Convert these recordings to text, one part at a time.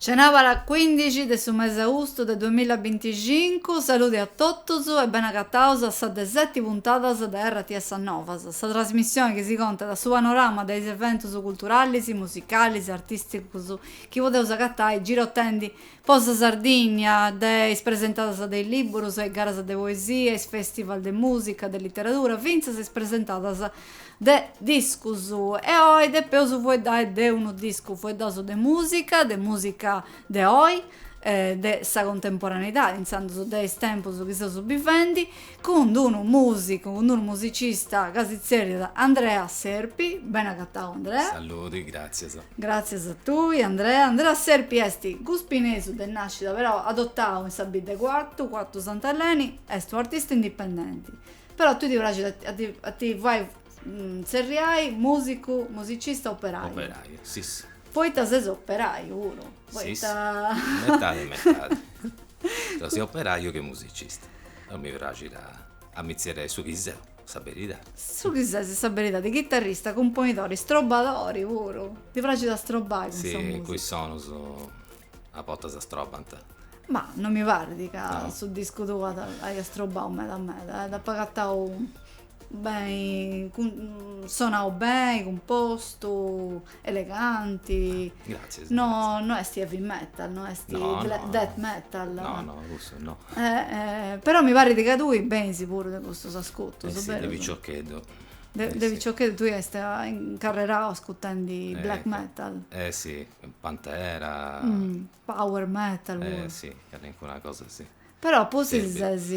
Cenabara cuindixi de su mesi austu de duamilla e binticincu, saludi a totus e ben'agataus a sa de seti puntadas de RTS Novas, sa trasmissioni chi si contat su panorama de is eventus culturalis, musicalis, artisticus, chi podeus agatai girotendi po sa Sardìnnia, de is presentadas de is lìburus e garas de poesia, is fèstivals de mùsica, de literadura, fintzas is presentadas de discus. E oi depeus fueddai de unu discu, fueddaus de mùsica, de mùsica de oi, de sa contemporaneidadi, intzandus de is tempus chi seus bivendi, cun d-unu musicu, cun d-unu musicista ca si tzerriat Andrea Serpi, bene agatau Andrea. Saludi, gratzias. Gratzias a tui Andrea. Andrea Serpi est guspinesu de nàscida però adotau in sa bidda 'e Cuartu, Cuartu Sant'Eleni, est unu artista indipendenti. Però tui ti praxit a ti a ti fai tzerriai musicu, musicista operaiu. Operaiu, si si. Poita ses operaiu puru, poita. Si si, metadi metadi. Siat operaiu che musicista. Non mi praxit a ammizierei su chi seu, sa beridadi. Su chi ses, sa beridadi, chitarrista, cumponidori, strobadori puru. Ti praxit a strobai cun sa musica? Si, cun is sonus a bortas strobant. Ma non mi parit ca su discu tuu aiat strobau meda meda, eh. Dd'apu agatau Beni sonau beni cumpostu eleganti Gratzias no no est heavy metal no est No, no. death metal No no cussu no però mi parit ca tui benis puru de custus ascutus Eh si de piciocheddu De de piciocheddu tui iast incarrerau ascutendi black metal Eh si Pantera Power metal puru. Eh si, calincuna cosa si. Però pustis ses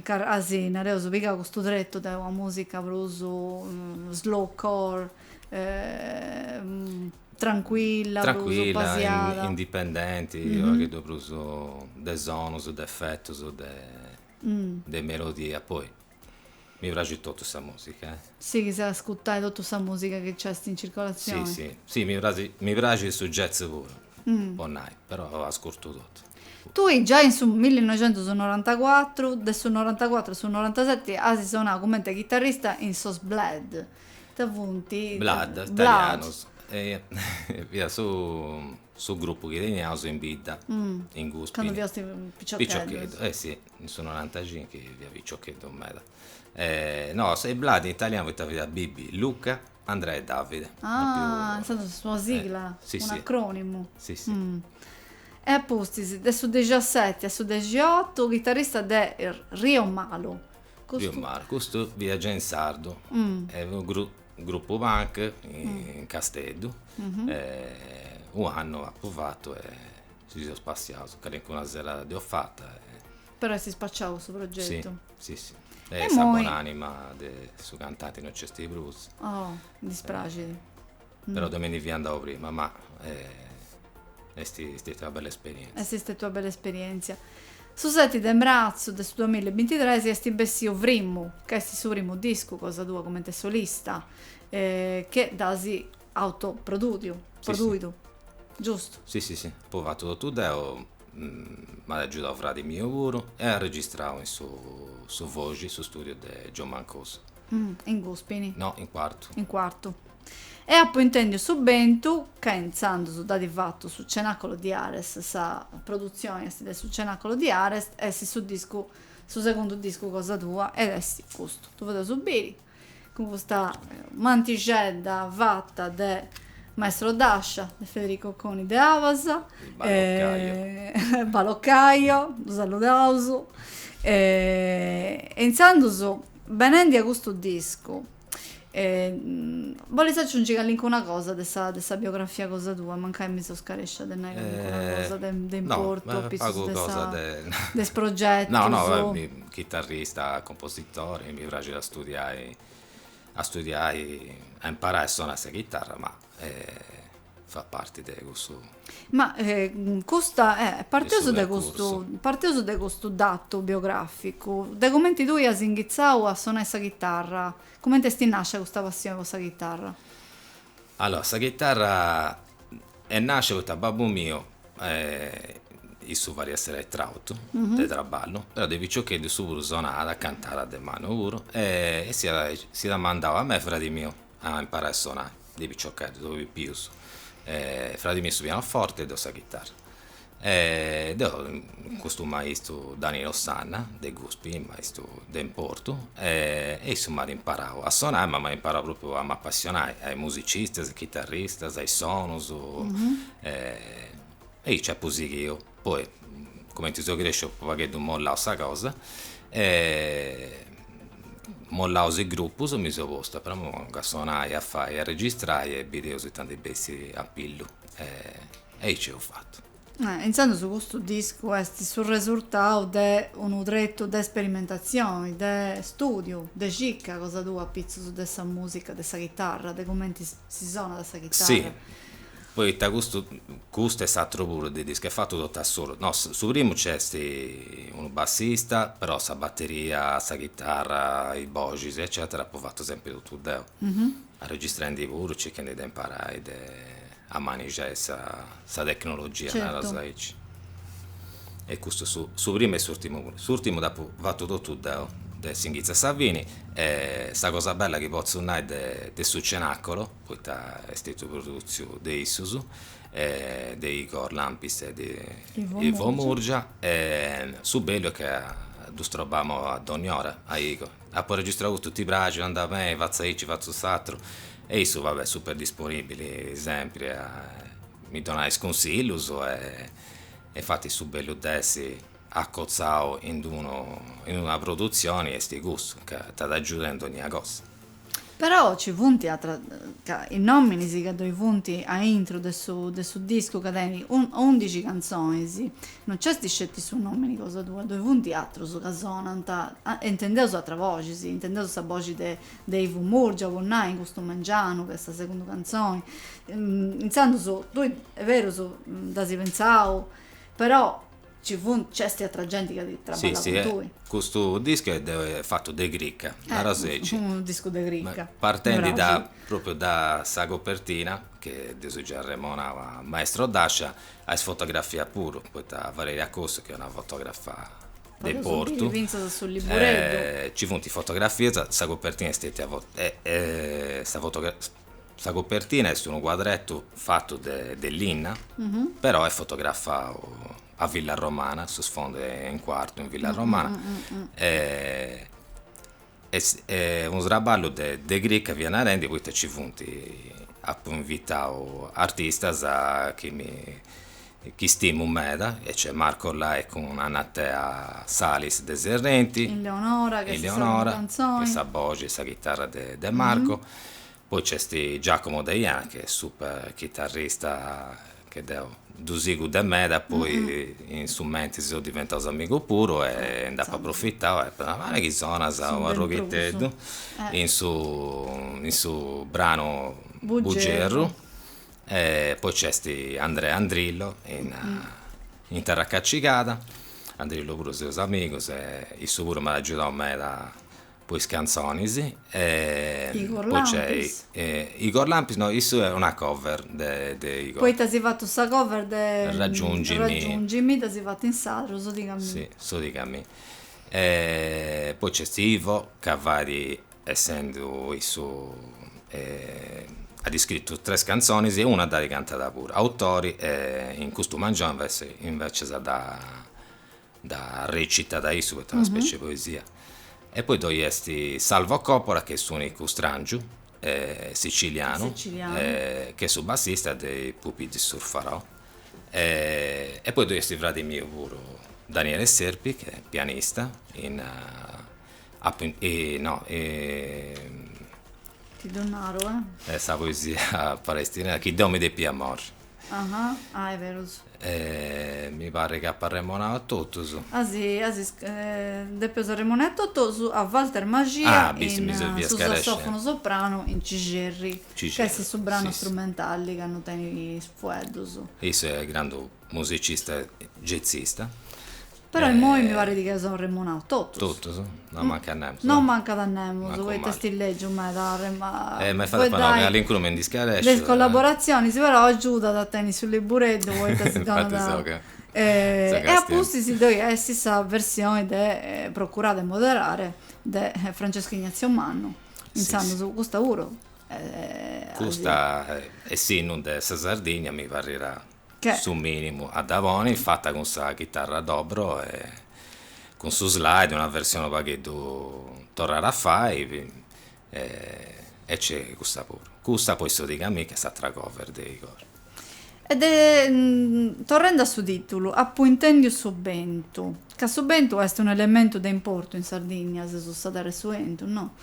as nareus pigau custu tretu de una musica prus slowcore trancuilla, prus pasiada. Indipendenti, unu pagheddu prus de sonus, de efetus, de melodia poi Mi praxit totu sa musica eh. Sighis a ascutai totu sa musica chi nc'est in circolazioni? Si si, si mi praxit, mi praxit su jazz puru po nai, però ascurtu totu. Tui giai in su millinoixentusnorantacuatru, de su norantacuatru a su norantaseti as sonau cumenti chitarrista in sos Blood, ita funt? Blood, italianos, fiat su su grupu chi teniaus in bidda in Guspini. Candu fiaus piciocheddus. Piciocheddus, eh si. in su norantacinchi fia piciocheddu meda e no, Sei Bladi in italianu poita fiat Bibi Luca Andrea e Davide ah in sardu est una sigla un'acronimu si si e a pustis de su dexaseti a su dexiotu chitarrista de Rio Malu Rio Malu custu fiat giai in sardu e unu grupu grupu punk in Casteddu e u' annu apu fatu e Si seus passiaus calincuna serada dd'eus fata e. Però est ispaciau su progetu. Si, si, si. E sa bon'anima de su cantanti no nc'esti prus. Oh, mi dispraxit. Però deu mi ndi fia andau prima, ma est stetia una bella esperientzia. Est stetia una bella esperientzia. Su seti de mratzu de su duamilla e bintitres est bessiu Frimmu, ca est su primu discu cosa tua comente solista, chi dd'as. Auto produtiu, produiu, giustu. Si si si, apu fatu totu deu, m'at agiudau fradi miu puru e arregistrau in su su Voxi, su studiu de John Mancuso. In Cuspini? No, in Cuartu. In Cuartu. E apu intendiu su bentu ca intzandus dd'at fatu su Cenacolo di Ares, sa produtzioni est de su Cenacolo di Ares e est su discu, su segundu discu cosa tua ed est custu. Ddu podeus biri. cun custa mantixedda fata de Maestrodascia, de Federico Coni de Abas, Baloccaio, ddu saludaus, e intzandus benendi a custu discu, bolis aciungi callincuna cosa de sa de sa biografia cosa tua, mancai mi seu scarescia de nai callincuna cosa de importu, a pitzus de sa de is progetus. Chitarrista, compositori, mi praxit a studiai a studiai a imparai a sonai sa chitarra ma fat parti de cussu. Ma custa parteus de custu parteus de custu datu biograficu de cumenti tui as inghitzau a sonai sa chitarra, cumenti esti nascia custa passioni po sa chitarra? Allora sa chitarra est nàscia poita babbu miu issu fadiat s'eletrautu de traballu però de piciocheddu issu puru sonàt cantàt de mannu puru e s'iat mandau a mei e fradi miu a imparai a sonai de piciocheddus pipius fradi miu su pianoforte e deu sa chitarra E de custu maistu Danilo Sanna de Guspi, maistu de importu, e e issu m'at imparau a sonai, ma m'at imparau pròpriu a m'apassionai a is musicistas, is chitarristas, a is sonus e aici apu sighiu. Poi cumenti seu cresciu apu u' pagheddu mollau sa cosa e mollau is grupus mi seu postu a prenu a sonai, a fai, a registrai e bideus ita ndi bessit a pillu e E aici eus fatu. Intzandus custu discu est su resurtau de unu tretu de sperimentatzioni, de stùdiu, de cicca cosa tua apitzus de sa mùsica de sa chitarra, de comenti si sonat sa chitarra. Si, poita custu custu e s'aturu puru de discu est fatu totu a solu. No, su primu nc'est unu bassista, però sa bateria, sa chitarra, is boxis eccetera apu fatu sempri totu deu, arregistrendi puru, circhendi de imparai de a manigiai sa sa tecnologia naras aici e custu su su primu e s'urtimu puru s'urtimu dd'apu fatu totu deu de s'inghitzu a sa fini e sa cosa bella chi potzu nai de de su Cenacolo poita est stetiu produtziu de issus de Igor Lampis e de Ivo Murgia e su bellu est ca ddus strobamu a dónnia ora a Igor apu registrau custu ti praxit andat beni fatzu aici fatzu s'aturu E issu vabbè super disponìbili sempri a mi donai is cunsillus e infati su bellu de essi accotzau in unu in una produtzioni est custu, ca t'agiudant in dogna cosa. Però ci funt atra ca is nominis ca ddoi funt a intro de su de su discu ca tenit undixi cantzonis, no nc'est sceti su nomini cosa tua, ddoi funt atrus ca sonant, intendeus atras boxis, intendeus sa boxi de de Ivo Murgia po nai in custu mangianu ca est sa segunda cantzoni, intzandus tui est berus dd'as pentzau però ci funt nc'est atra genti ca ti traballat cun tui. Custu discu est fatu de cricca, naras aici. Est unu discu de cricca. Partendi da propriu da sa copertina chi dd'eus giai arremonau a maestro Dascia a is fotografias puru poita Valeria Cossu chi est una fotografa de Portu, nci funt is fotografias, sa copertina est stetia, sa copertina est unu cuadretu fatu de linna, però est fotografau a Villa Romana, su sfondu est in Cuartu in Villa Romana unu traballu de de cricca fia narendi poita ci funt, apu invitau artistas chi mi chi stimu meda e nc'est Marco Lai cun Anna Tea Salis de Serrenti, Eleonora chi est sa boxi e sa chitarra de Marco, Poi nc'est Giacomo Deiana chi est super chitarrista chi deu ddu sigu de meda poi in su mentris seus diventaus amigus puru e nd'apu aprofitau e a mei chi sonas un'arroghiteddu in su in su branu Bugerru e poi nc'est Andrea Andrillo in in Terra Cacigada, Andrillo puru seus amigus e issu puru m'at agiudau meda po is cantzonis e po nc'est Igor Lampis no issu est una cover de de Igor Poita eus fatu sa cover de Raggiungimi Raggiungimi dda si fatu in sardu su diga mi si su diga mi e poi nc'est Ivo ca fait essendu issu at iscritu tres cantzonis e una dda cantat puru autori e in custu mangioni invece invece sa dda dda recitat a issu poita est una specie de poesia. E poi ddoi est Salvo Coppola chi est s'unicu strangiu, sicilianu, chi est su bassista de i Pupi di Surfarò. E poi ddoi est u fradi miu puru, Daniele Serpi, chi est pianista in no Ti ddu narau eh. Sa poesia palestinesa, chi deu mi depia morri Aha, ah è berus. E mi paret chi apo arremonau a totus. Est a si depeus arremonai a totus a Walter Maxia in su sassofonu sopranu in Cicerri, ca est su branu strumentali ca non tenit is fueddus. Issu est grandu musicista, jazzista. Però immoi mi parit ca son remunaus totus. Totus? Non mancant nemus. Non mancant a nemus poita est lègiu meda. Eh ma infati po no chi calincunu mi ndi scaresciu. De is collaborazionis, però agiudat a tenni su libureddu poita si donat. E a pustis ddoi est sa versioni de Procurare e moderare de Francesco Ignazio Mannu, intzandus, custa puru. Custa, essinnu de sa Sardigna mi parriat su minimu a dda poni, fata cun sa chitarra a dobro e cun su slide, una versione unu pagheddu torrare a fai e nc'est custa puru, custa poi so diga mi ca est s'atra cover de Igor. E de torrendi a su titulu, Apu intendiu su bentu, ca su bentu est unu elementu de importu in Sardigna, sesus sa terra 'e su 'entu, no?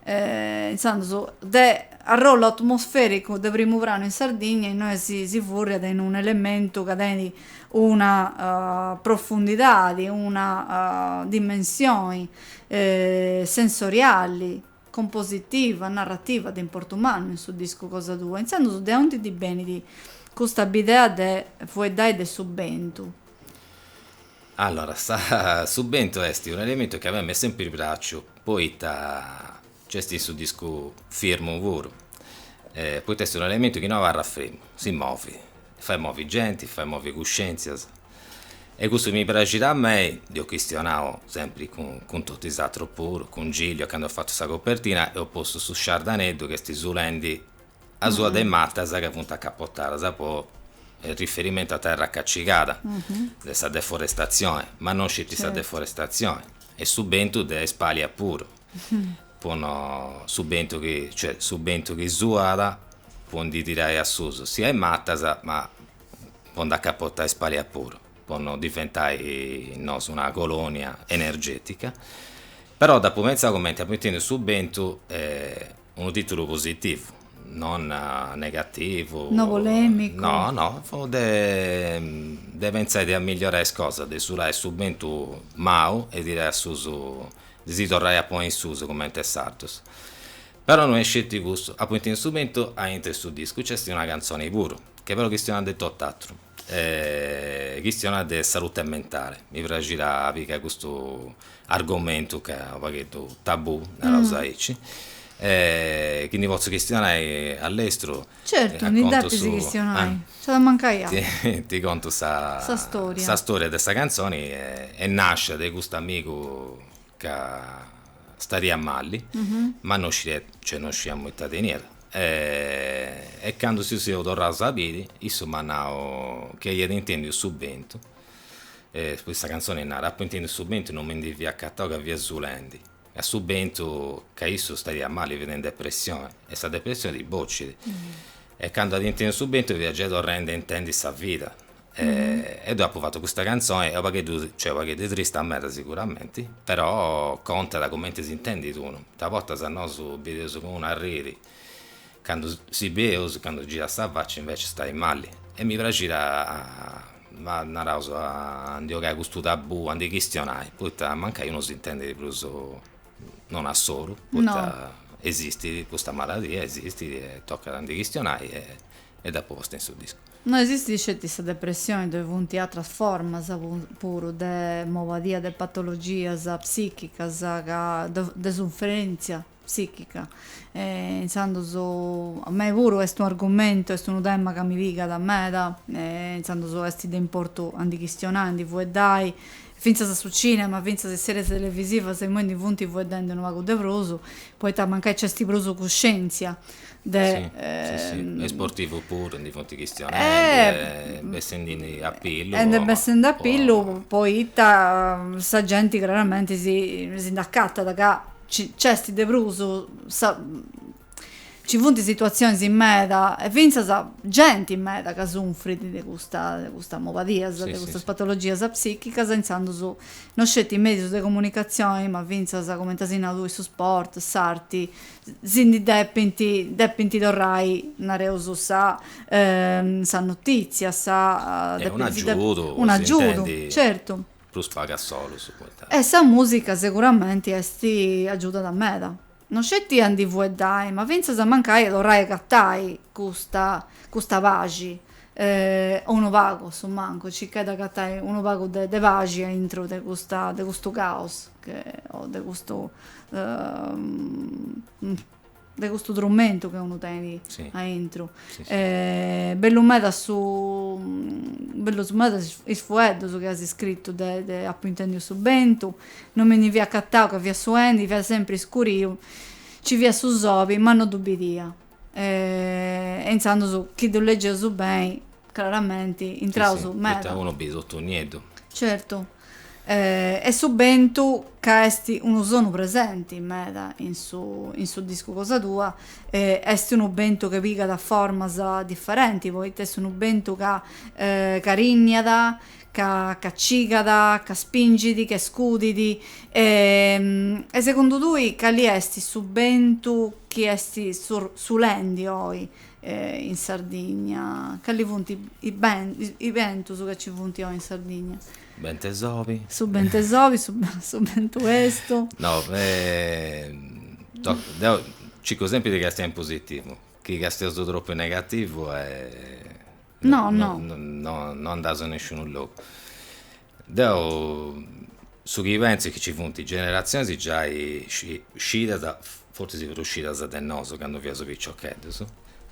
intzandus de arrollu atmosfericu de primu pranu in Sardigna innoi si furriat in un elementu ca tenit una profundidadi una dimensioni sensoriali compositiva narrativa de importu mannu in su discu cosa tua intzandus de aunti ti benit custa bidea de fueddai de su bentu Allora, sa su bentu est unu elementu chi a mei m'est sempiri praciu, poita nc'est in su discu firmu puru, poita est unu elementu chi no abarrat fremu, si movit, fait moviri genti, fait moviri cuscientzias, e cussu mi praxit a mei, dd'eus chistionau sempri cun totu is atrus puru, cun Giglio candu at fatu sa copertina, eus postu su sciardaneddu chi est su lendi a sua de matas ca funt acapotadas po riferimentu a terra cacigada de sa deforestatzioni, ma no sceti sa deforestatzioni, e su bentu de is palias puru, po no, su bentu chi, cioè su bentu chi suat po ndi tirai a susu sia is matas, ma po nd'acapotai is palias puru, po no diventai nosu una colonia energetica, però dd'apu pentzau cumenti apu intendiu su bentu Unu tìtulu positivu, non negativu. No polèmicu. No, no, fut de de pentzai a amillorai is cosas, de sulai su bentu mau e tirai a susu, de si torrai a ponni in susu cumenti 'e sardus. Però no est sceti custu, apu intendiu su bentu aintru 'e su discu, nc'est una cantzoni puru, che però chistionat de tot'atru. chistionat de salute mentale, mi praxit a pigai custu argomentu ca est unu pagheddu tabù, naraus aici, cuindi potzu chistionai a lestru, certu ndi depis chistionai, nci at a mancai atru, ti contu sa storia de sa cantzoni e nascit de custu amigu ca stariat mali, ma no scidiat, cioè no scidiamus ita teniat, e candu si seus torraus a biri, issu m'at nau chi aiat intendiu su bentu, poi sa cantzoni narat, apu intendiu su bentu, no mi ndi fia acatau ca fiat sulendi, a su bentu, ca issu stariat mali, fiat in depressioni, e sa depressioni ti bocit, e candu at intendiu su bentu fiat giai torrendi a intendi sa vida, E deu apu fatu custa cantzoni, est unu pagheddu, cioè unu pagheddu trista meda siguramenti, però contat cumenti s'intendit unu, a bortas nosu bideus cun unu arriri candu si bideus, candu girat sa facci inveci stait mali e mi praxit a naraus a ndi 'ogai custu tabù, a ndi chistionai, poita mancai unu s'intendit prus non a solu, poita esistit custa maladia, esistit e tocat a ndi chistionai e dd'apu posta in su discu. No esistit sceti sa depressioni ddoi funt atras formas puru de mobadia de patologias psichicas ca de sufferentzia psichica e intzandus a mei puru est unu argumentu est unu tema ca mi pigat meda e intzandus est de importu a ndi chistionai a ndi fueddai fintzas a su cinema fintzas is series televisivas imoi ndi funt fueddendi unu pagu de prus poita mancai nc'est prus cuscientzia De, sì, sì, sì. Ehm, is sportivus puru ndi funt chistionendi e bessendindi a pillu. E ndi bessindi a pillu poita sa genti craramenti si, si nd'acatat ca nc'est de prus sa, nci funt situatzionis meda e fintzas genti meda ca sunfrit de custa, de custas mobadias, de custas patologias psichicas e intzandus no sceti is medius de comunicatzioni ma fintzas, cumenti as nau tui, su sport, s'arti si ndi depint depint torrai nareus sa sa notizia sa un'agiudu po si intendi certu prus pagu solus poita e sa musica seguramenti est agiudat meda no sceti a ndi fueddai ma finzas mancai a torrai a agatai custa custa paxi o unu pagu a su mancu circai de agatai unu pagu de paxi aintru de custa de custu caos o de custu de custu trumentu chi unu tenit aintru e bellu meda su bellus meda is fueddus chi as scritu de de apu intendiu su bentu non mi ndi fia acatau ca fiat suendi fiat sempri iscuriu ci fiat su soli ma no ddu bidia E, e intzandus, chi ddu legeus beni, craramenti, intraus meda. Poita unu bit totu nieddu. Certu. E su bentu ca est unu sonu presenti meda in su, in su discu cosa tua, est unu bentu ca pigat formas differenti, poita est unu bentu ca, ca carinniat, ca cigat, ca spingit, ca scudit, e segundu tui cali est su bentu chi est sulendi oi in Sardigna? Cali funt is bentus ca ci funt oi in Sardigna? Su bentu 'e s'obi. Su bentu 'e s'obi, su bentu 'e su. No, deu circu sempri de castiai in positivu, chi castiaus tropu in negativu No, no. No, no andaus a nesciunu logu. Deu su chi pentzu chi nci funt generatzionis giai scidas, fortzis prus scidas de nosu candu fiaus piciocheddus,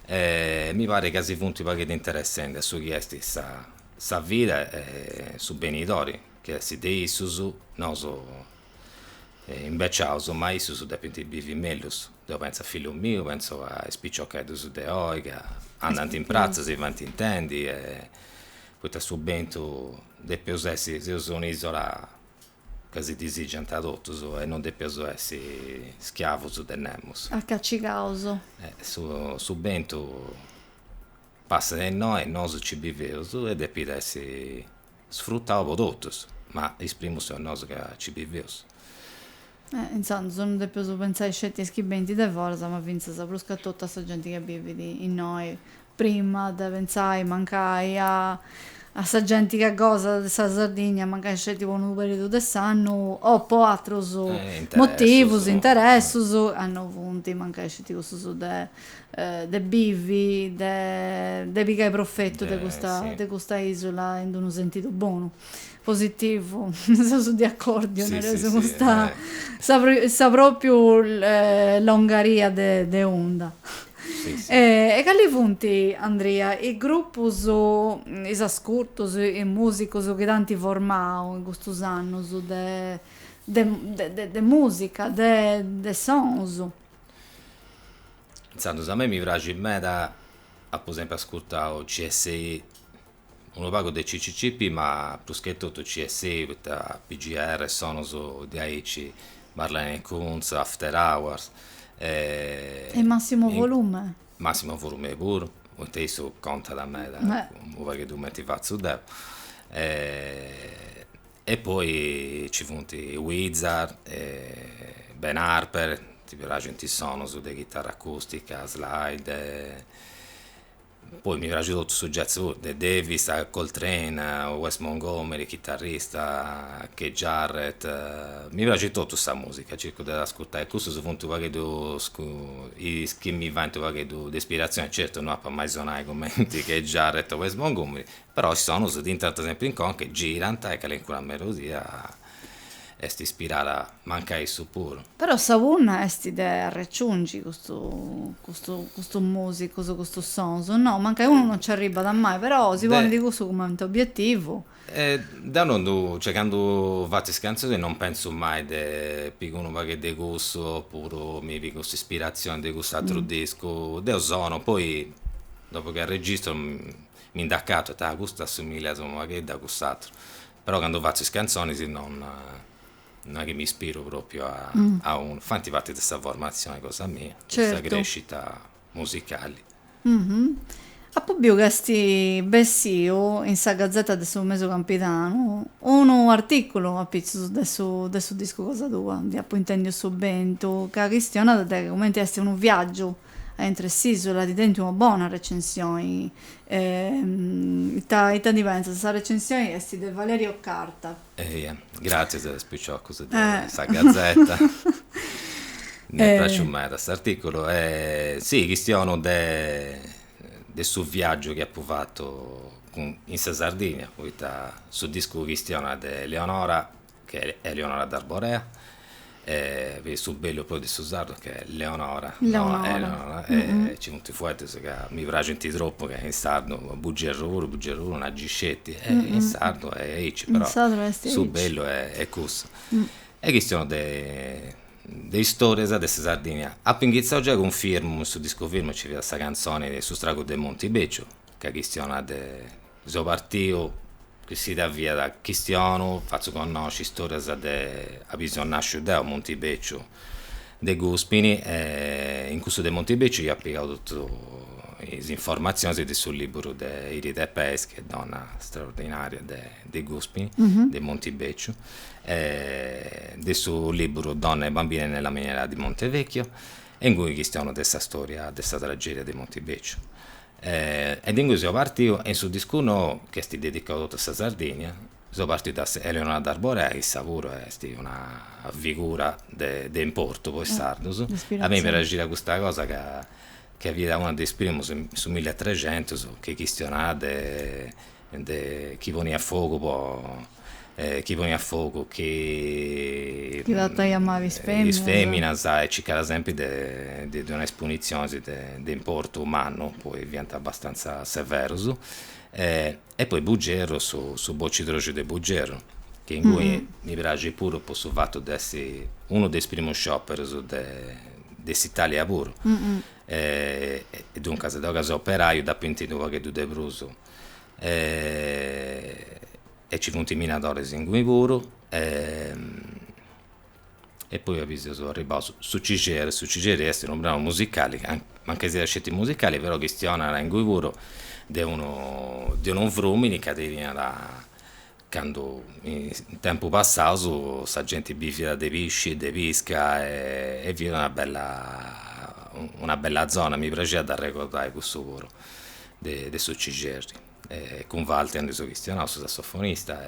e mi parit ca si funt u' pagheddu interessendi a su chi est sa vida e su benidori chi est de issus, nosu imbeciaus, ma issus depint bivi mellus, deu pentzu a fillus mius, pentzu a is piciocheddus de oi ca andant in pratza, si faint intendi e poita su bentu depeus essi, seus una isola ca si disìgiant a totus e non depeus essi schiavus de nemus. Acacigaus. Su bentu passat innoi e nosu nci biveus e depit essi Sfrutau po totus, ma is primus seus nosu ca ci biveus. Eh, intzandus non depeus pentzai sceti a is chi benint de foras, ma fintzas prus ca totu a sa genti ca bivit innoi, prima de pentzai mancai a a sa genti ca gosat de sa Sardigna, mancai sceti po unu perìodu de s'annu o po atrus motivus, interessus, ca no funt mancai sceti cussus de de bivi, de pigai profetu de custa de custa isula in d'unu sentidu bonu, positivu, seus di acordiu, nareus custa sa propriu longaria de de onda. E cali funt, Andria, is grupus, is ascurtus, is musicus chi t'ant formau in custus annus de de de de musica, de de sonus? Intzandus a mei mi praxit meda, apu sempri ascurtau CSI, unu pagu de CCCP ma prus che totu CSI poi PGR e sonus diaici Marlene Kuntz, Afterhours. E Massimo Volume? Massimo Volume puru, poita issu contat meda, unu pagheddu cumenti fatzu deu E poi ci funt Weezer e Ben Harper, mi praxint is sonus de chitarra acustica, slide, poi mi praxit totu su jazz puru, de Davis a Coltrane, Wes Montgomery chitarrista, Keith Jarrett, mi praxit totu sa musica, circu de ascurtai e cussus funt u' pagheddu is chi mi faint u' pagheddu de ispirazioni, certu no ap'a mai sonai cumenti Keith Jarrett o Wes Montgomery, Però is sonus t'intrant sempri in conca e girant e calencuna melodia est ispirada mancai a issus puru. Però sa punna est de arreciungi custu custu custus musicus, custus sonus, no? Mancai unu non nci arribat mai, però si ponit cussu cumenti obietivu. Deu non ddu, cioè candu fatzu is cantzonis non pentzu mai de pigu unu pagu de cussu opuru mi pigu s'ispirazioni de cust'atru discu, deu sono, poi dopu chi arregistru Mi nd'acatu e ita, custu assimbillat unu pagheddu a cuss'atru, però candu fatzu is cantzonis non non è chi mi ispiru propriu a unu, fanti parti de sa formatzioni cosa mia, de sa crescita musicali. Apu biu ca est bessiu in sa Gazetta de su Mèdiu Campidanu unu articulu apitzus de su de su discu cosa tua, Apu intendiu su bentu, ca chistionat de cumenti est unu viaggiu A intre s'isula t'ant tentu una bona recensioni. Ita ita ndi pentzas? Sa recensioni est de Valerio Carta. Eia, gràtzias a is piciocus de sa Gazetta. M'est pràsciu meda s'artìculu. E si, chistionu de de su viàgiu chi apu fatu in sa Sardigna, poita su discu chistionat de Leonora chi est Eleonora d'Arborea e fit su bellu poi de su sardu chi est Leonora no Eleonora e nci funt fueddos ca mi praxint tropu ca in sardu Bugerru puru Bugerru puru una gi sceti e in sardu est aici però su bellu est cussu e chistiono de de istorias de sa Sardigna apu inghitzau giai cun Firmo in su discu Firmo nci fiat sa cantzoni de su stragu de Montibeciu ca chistionat de So partiu chi si da fiat chistionu fatzu connosci istorias de abi so nasciu deu Muntibeciu de Guspini e in cussu de Muntibeciu ia pigau totu is informatzionis de su liburu de Iride Peis donna straordinaria de Guspini de Muntibeciu e de su liburu Donne e bambine nella miniera di Montevecchio e ingui chistionu de sa storia de sa tragedia de Muntibeciu E de ingui seu partiu e in su discu nou, chi est dedicau totu a sa Sardìnnia, seu partiu de Eleonora d'Arborea, issa puru est una figura de de importu po is sardus. A mei mi praxiat custa cosa ca ca fiat una de is primus in su milli e trexentus chi chistionat de De chi poniat fogu po. Chi poniat fogu chi. Chi trattaiat mali is feminas. Is feminas e circaiat sempri de ddis donai is punitzionis de importu mannu, poi fiant abastanza severus. E poi Bugerru, su bocidroxu de Bugerru, chi inguni mi praxit puru po su fatu de essi unu de is primus scioperus de s'Italia puru. E duncas deu ca seu operaiu dd'apu intendida u' pagheddu de prus e ci funt minadores inguni puru e poi abi seus arribaus su Cixerri, su Cixerri est unu branu musicali ca mancai siat sceti musicali però chistionat inguni puru de unu frumini ca teniat candu in tempus passaus sa genti biviat de pisci, de pisca e fiat una bella una bella zona, mi praxiat de arregordai cussu puru de su Cixerri e cun Walter ndi seu chistionau, su sassofonista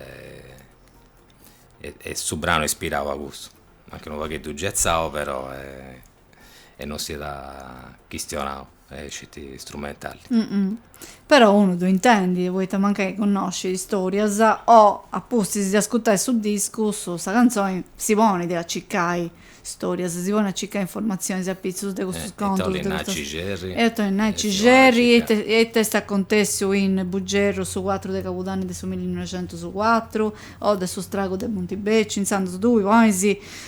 e su branu est ispirau a cussu, mancai unu pagheddu jazzau però e non siat chistionau est sceti strumentali. Però unu ddu intendit poita mancai connoscit istorias o a pustis de ascutai su discu sa cantzoni si ponit a cicai istorias si ponit a cicai informatzionis apitzus de custus contus de custas e ita bolit nai Cixerri e ita est acontessiu in Bugerru su cuatru de cabudanni de su millinoixentus cuatru o de su stragu de Muntibecciu intzandus tui ponis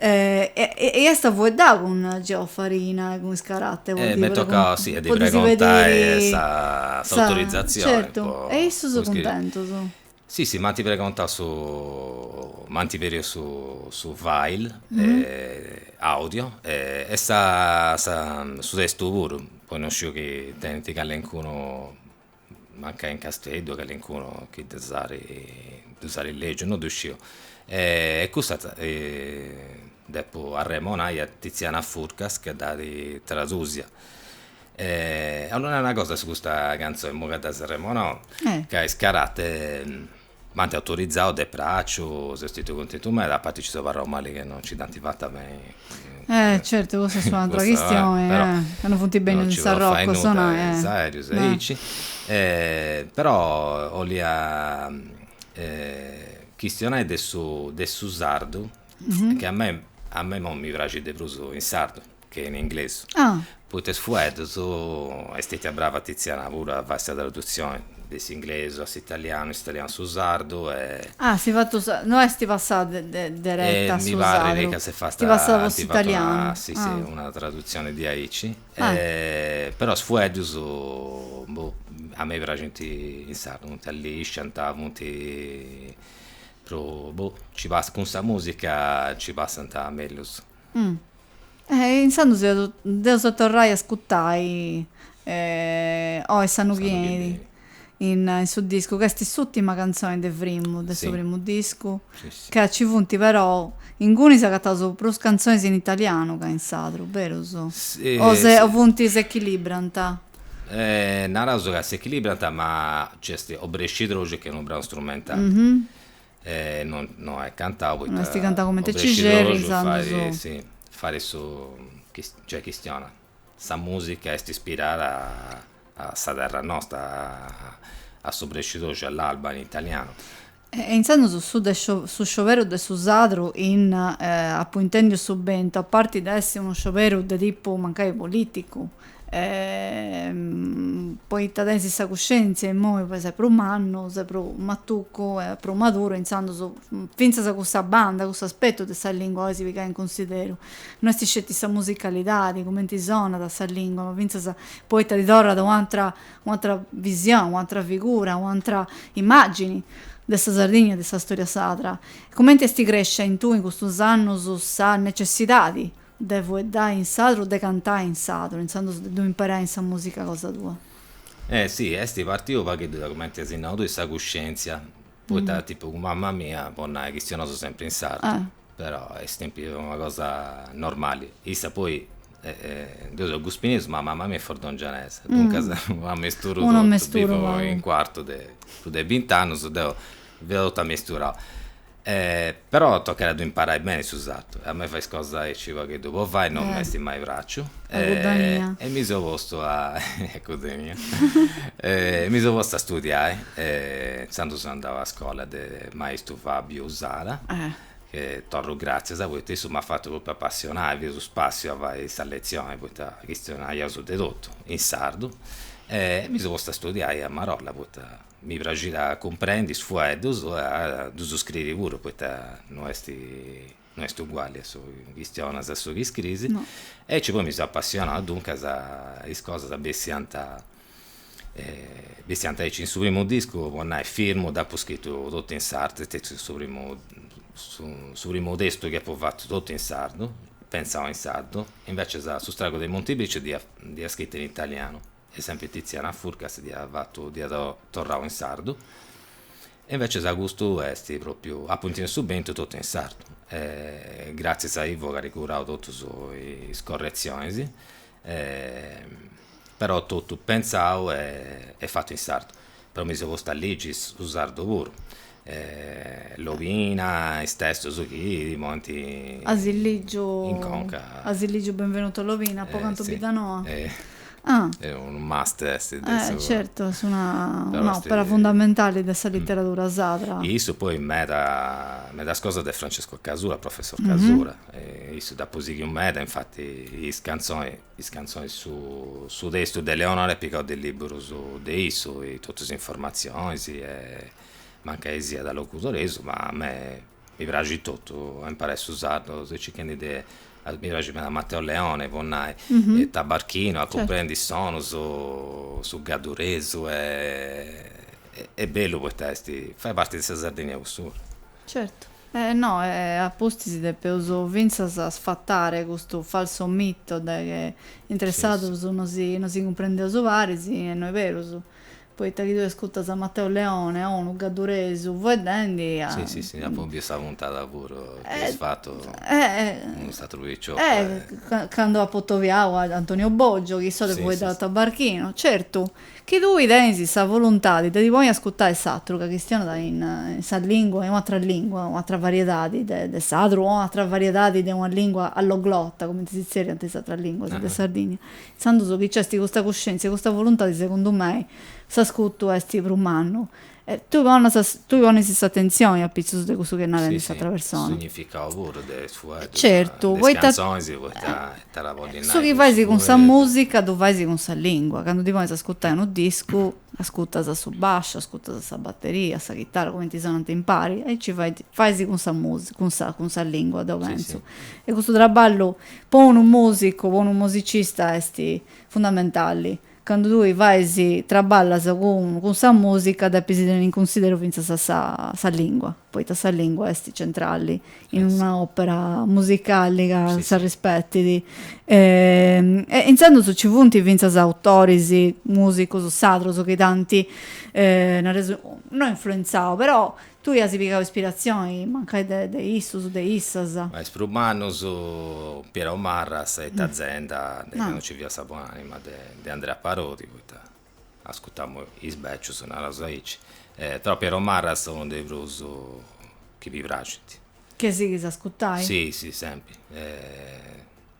e est a fueddau cun Geoff Farina e cun is Karate po ddis pediri s'autorizatzioni certu e issus cuntentus si si m'ant pregontau su m'ant pediu su su file audio e sa su testu puru poi non sciu chi tenint callincunu mancai in Casteddu calincunu chi ddus at ddus at lègiu, no ddu sciu. E custa depu arremonai a Tiziana Furcas ca dd'at tradùsia. 'Ollu nai una cosa de custa cantzoni, imui ca dd'as arremonau, ca is Karate M'ant autorizau de pràciu, seu stetiu cuntentu meda, a parti ci seu abarrau mali chi no ci dd'ant fata a benni. Eh, certu, cussa est un'atra chistioni, ca no funt bènnius a Sarrocu, no? Eh. Is aerius e aici. Però 'olia chistionai de su de su sardu, chi a mei a mei imoi mi praxit de prus in sardu. che in inglesu. Poita is fueddus est stetia brava Tiziana puru a fai sa tradutzioni de s'inglesu a s'italianu, de s'italianu a su sardu e. Ah si fatu sa, no esti passau dereta a su sardu. E mi parrit ca s'est fata, esti fatu una, si si, una tradutzioni diaici. Però is fueddus, boh, a mei praxint in sardu, funt allisciant, funt prus, boh, nci passant, cun sa musica nci passant mellus. Eh! Intzandus dd'eus a torrai a ascutai oi s'annu chi benit in su discu, ca est s'ùtima cantzoni de primu de su primu discu, ca nci funt però, ingunis agataus prus cantzonis in italianu ca in sardu, berus? O funt s'echilibrant? Naraus ca s'echilibrant ma nc'est Obrescidroxu ca est unu branu strumentali, E no no est cantau poita. No esti cantau comente ci serit inzandus. Fai si fai su cioè chistionat sa musica est ispirada a sa terra nosta a s'obrescidroxu a l'alba in italianu. E inzandus su de su scioberu de su sadru in apu intendiu su bentu a parti de essi unu scioberu de tipu mancai politicu. E poita tenis sa cuscèntzia immoi ses prus mannu, ses prus matucu e prus maduru, intzandus fintzas cussa banda, cussu aspetu de sa lìngua ois pigai in cunsideru. No est sceti sa musicalidadi, cumenti sonat sa lìngua, ma fintzas poita ti torrat u' atera u' atera visioni, u' atera figura, u' atera imàgini de sa Sardigna e de sa storia sarda. Cumenti est crescia in tui in custus annus sa necessidadi de fueddai in sadru o de cantai in sadru, intzandus de ddu imperai in sa musica cosa tua? Eh si, esti partiu u pagheddu de cumenti asi nau tui sa cuscientzia, poita tipu cun mamma mia, po nai, chistionaus sempri in sardu, però est sempri una cosa normali, issa poi deu seu guspinesu ma mamma mia est fordongianesa, duncas unu amesturu totu, bivu in Cuartu de prus de bint'annus, deu fia totu amesturau. Però tocat a ddu imparai beni su sardu e a mei fai is cosas aici u' pagheddu po fai non m'est mai praxiu e mi seu postu a a cudhenia e mi seu postu a studiai e intzandus seu andau a scola de maistu Fabio Usala chi torru gratzias poita issu m'at fatu propriu apassionai, fiat su spassiu a fai sa letzioni poita chistionaiaus de totu in sardu e mi seu postu a studiai a marolla poita Mi praxit a cumprendi is fueddus e a ddus scriri puru poita no est no est uguali a su chi chistionas a su chi scriis. No. Aici poi mi seu apassionau duncas is cosas bessiant bessiant aici. In su primu discu, po nai, Firmu, dd'apu scritu totu in sardu, est stetiu su primu su primu testu chi apu fatu totu in sardu, pentzau in sardu, invecias su stragu de Montibeciu dd'ia scritu in italianu e sempri Tiziana Furcas dd'iat fatu dd'iat torrau in sardu e invecias custu est propriu apu intendiu su bentu totu in sardu e gratzias a Ivo ch'at curau totus is corretzionis però totu pentzau e fatu in sardu Poi mi seu postu a ligi su sardu puru e Lobina is testos chi mi ant. As ligiu. In conca. As ligiu Benvenuto Lobina Po cantu Biddanoa? Ah. Est unu must est de su. Certu, est una opera fundamentali de sa literadura sadra. E issu poi meda medas cosas de Francesco Casula, Professor Casula, e issu dd'apu sighiu meda, infati is cantzoni Is cantzonis Su testu de Leonora est pigau de liburus de issu e totu is informatzionis e mancai siat locudoresu ma a mei mi praxit totu a imparai su sardu seu circhendi de mi praxit meda Matteo Leone po nai e tabarchinu a cumprendi is sonus su gadduresu est bellu poita est fait parti de sa Sardigna cussu puru Certu. E no, e a pustis depeus fintzas sfatare custu falsu mito de chi intre sadrus no si no si cumprendeus paris, e no est berus, poita chi tue ascurtas a Matteo Leone, o unu gadduresu fueddendi a. Si, si, si, apu biu sa puntada puru chi eis fatu cun s'aturu picioccu e. Ca cando apu atobiau a Antonio Boggio, chi issu fueddat tabarchinu, certu. Chi tui tenis sa voluntadi de ti ponni a ascurtai s'atru ca chistionat in sa lingua, in un'atra lingua, un'atra variedadi de de sadru o un'atra variedadi de una lingua alloglota, cumenti si tzerriant in is atras linguas de Sardigna, intzandus chi nc'est custa cuscientzia e custa voluntadi segundu mei s'ascurtu est prus mannu. E tui pones, tui ponis s'atentzioni apitzus de cussu chi est narendi s'atra persona. Su significau puru de is fueddus, de is cantzonis. Certu, poita ita dda podit nai. Su chi fais cun sa musica ddu fais cun sa lingua, candu ti ponis a ascurtai unu discu, ascurtas a su basciu, ascurtas a sa batteria, a sa chitara, cumenti sonant impari, e aici fait, fais cun sa musica, cun sa, cun sa lingua deu pentzu. E custu traballu po unu musicu, po unu musicista est fundamentali, Candu tui fais traballas cun cun sa musica depis tenni in cunsideru finzas a sa sa lingua, poita sa lingua est centrali in una opera musicali ca s'arrispetit. E intzandus nci funt finzas autoris, musicus sadrus chi t'ant naraus no influenzau però Tui as pigau ispiratzioni mancai de de issus, de issas. Ma is prus mannus Piero Marras e is Tazenda de candu nci fiat sa buon'anima de de Andrea Parodi, poita ascutamu is becius, naraus aici, però Piero Marras unu de is prus chi mi praxint. Che sighis a ascutai? Si, si, sempri.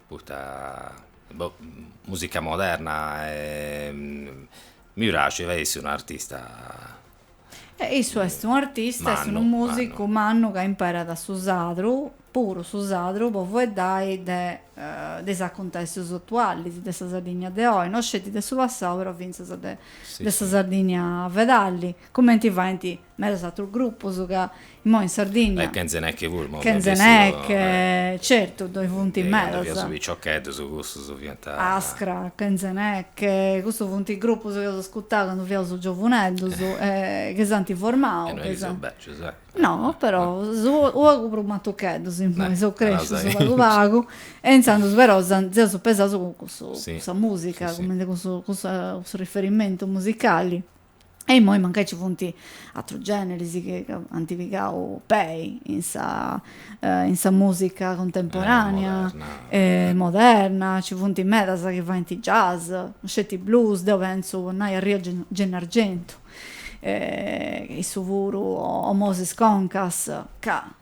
Poita, boh, musica moderna e mi praxit, est un'artista E issu est unu artista, est unu musicu mannu ca imperat su sadru, puru su sadru, po fueddai de de is acuntessus atualis de sa Sardigna de oi, no sceti de su passau, però fintzas de sa Sardigna fedali, cumenti faint medas atrus grupus ca Imoi in Sardigna. E Kenzeneke puru, imoi fiant bessius. Kenzeneke, certu, ddoi funt medas. Candu fiaus piciocheddus cussus fiant. Askra, Kenzeneke, cussus funt grupus chi eus ascurtau candu fiaus giovuneddus e chi s'ant formau. E no chi seus bècius, eccu. No, però, seus u' pagu prus matucheddus imoi, seus crescius pagu pagu e intzandus però seus pesaus cun cussa musica, cun cussu riferimentu musicali. e immoi mancai ci funt atrus generis chi ant pigau pei in sa in sa musica cuntemporanea e moderna, ci funt medas chi faint jazz, no sceti blues, deu pentzu po nai Arrogalla, issu puru o Moses Concas, ca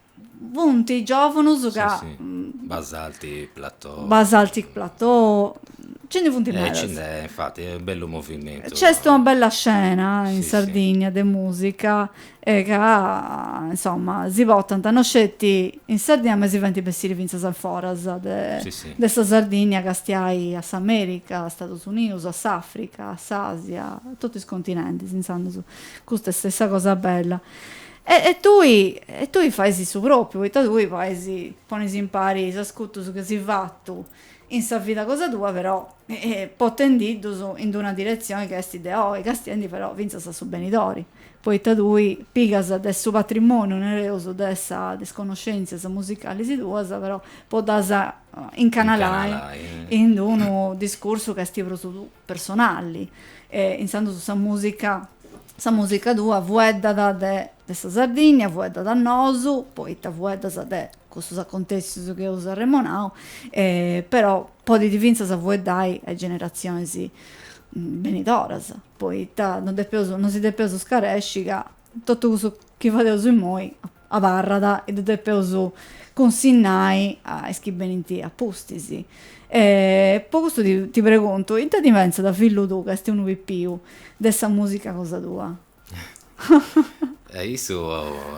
Funt giòvanus ca. Si, si. Basaltic Plateau. Basaltic Plateau. Nci ndi funt medas. Nci nd'est, infati, est bellu movimentu. Nc'est una bella scena in Sardìnnia de mùsica e ca, insoma, si portant no sceti in Sardìnnia ma si faint bessiri fintzas a foras de sa Sardìnnia, a castiai a s'Amèrica, a Stadus Unius, a s'Àfrica, a s'Àsia, a totu is continentis, insoma. Custa est sa cosa bella. E tui, e tui fais su pròpiu, poita tui fais, ponis impari is ascutus chi si fatu in sa vida cosa tua, però potendiddus in una diretzioni ca est de oi, castiendi però fintzas a su benidori, poita tui pigas de su patrimoniu, nareus, de is connoscèntzias musicalis tuas, però po ddas incanalai in unu discursu ca est prus personali e intzandus sa musica sa musica tua fueddat de sa Sardinnia fueddat a nosu poita fueddas de cussus acontessius chi eus arremonau e però podit fintzas fueddai a is generatzionis benidoras poita non depeus non si depeus scaresci ca totu cussu chi fadeus immoi abarrat e ddu depeus cunsinnai a is chi benint a pustis. E po custu ti preguntu, ita ndi pentzat fillu tuu ca est unu pipiu de sa musica cosa tua? E issu